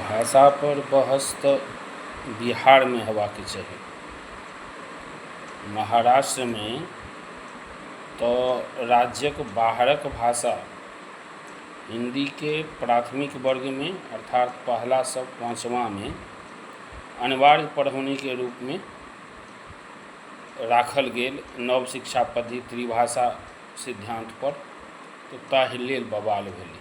भाषा पर बहस तऽ बिहारमे होयबाक चाही महाराष्ट्रमे तऽ राज्यक बाहरक भाषा हिन्दीके प्राथमिक वर्गमे अर्थात पहला सँ पाँचवाँमे अनिवार्य पढ़ौनीके रूपमे राखल गेल नव शिक्षा पद्धति त्रिभाषा सिद्धान्त पर तऽ ताहि लेल बवाल भेलै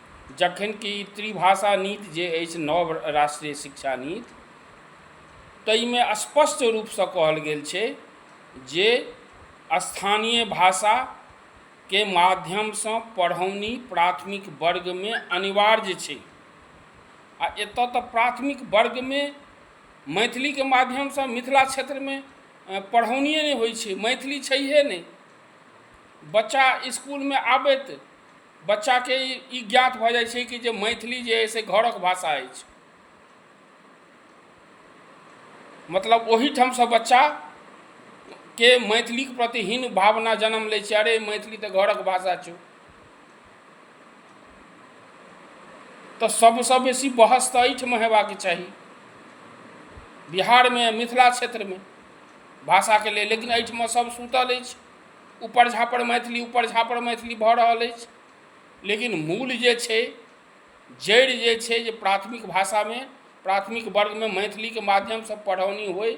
जखन कि त्रिभाषा नीति जे अछि नव राष्ट्रीय शिक्षा नीति ताहिमे स्पष्ट रूपसँ कहल गेल छै जे स्थानीय भाषाके माध्यमसँ पढ़ौनी प्राथमिक वर्गमे अनिवार्य छै आ एतऽ तऽ प्राथमिक वर्गमे मैथिलीके माध्यमसँ मिथिला क्षेत्रमे पढ़ौनिये नहि होइ छै मैथिली छैहे नहि बच्चा इसकुलमे आबैत बच्चाके ई ज्ञात भऽ जाइ छै कि जे मैथिली जे अइ से घरक भाषा अछि मतलब ओहिठामसँ बच्चा के मैथिलीके प्रति हीन भावना जन्म लै छै अरे मैथिली तऽ घरक भाषा छौ तऽ सबसँ बेसी बहस तऽ एहिठाम हेबाक चाही बिहारमे मिथिला क्षेत्रमे भाषाके लेल लेकिन एहिठाम सब सुतल अछि उपर झापर मैथिली उपर झापर मैथिली भऽ रहल अछि लेकिन मूल जे छै जड़ि जे छै जे प्राथमिक भाषामे प्राथमिक वर्गमे मैथिलीके माध्यमसँ पढ़ौनी होइ